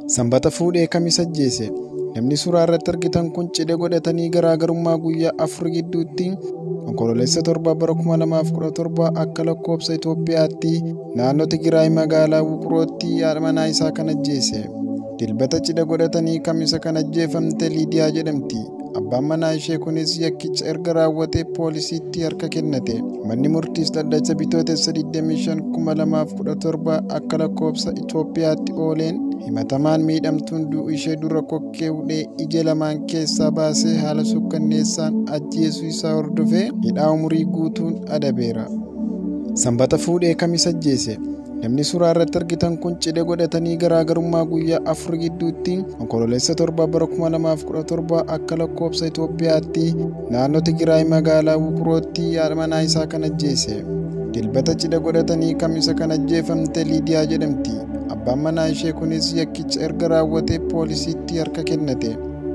Sanbata fuudhee Kamis ajjeese. Namni suuraa irratti argitan kun cidha godhatanii garaagarummaa guyyaa afur gidduutti Onkoloolessa 7 bara 2017 akka lakkoobsa Itoophiyaatti naannoo Tigraay magaalaa Wuqrootti haadha manaa isaa kan ajjeese. Dilbata cidha godhatanii Kamisa kan ajjeefamte Liidiyaa jedhamti. Abbaan manaa ishee kunis yakkicha erga raawwatee poolisiitti harka kennate. Manni murtiis dhaddacha bitootessa 25,2017 akka lakkoofsa Itoophiyaatti ooleen himatamaan miidhamtuun du'u ishee dura kokkee hudhee ija lamaan keessaa baasee haala sukkanneessaan ajjeesuu isaa hordofee hidhaa umurii guutuun adabeera. Sanbata fuudhee kamis ajjeese. Namni suuraa irratti argitan kun cidha godhatanii garaagarummaa guyyaa afur gidduutti onkololeessa torba bara 2017 akka lakkoobsa Itoophiyaatti naannoo Tigraay magaalaa Wuqrootti haadha manaa isaa kan ajjeese. Dilbata cidha godhatanii kamisa kan ajjeefamte Liidiyaa jedhamti. Abbaan manaa ishee kunis yakkicha erga raawwatee poolisiitti harka kennate.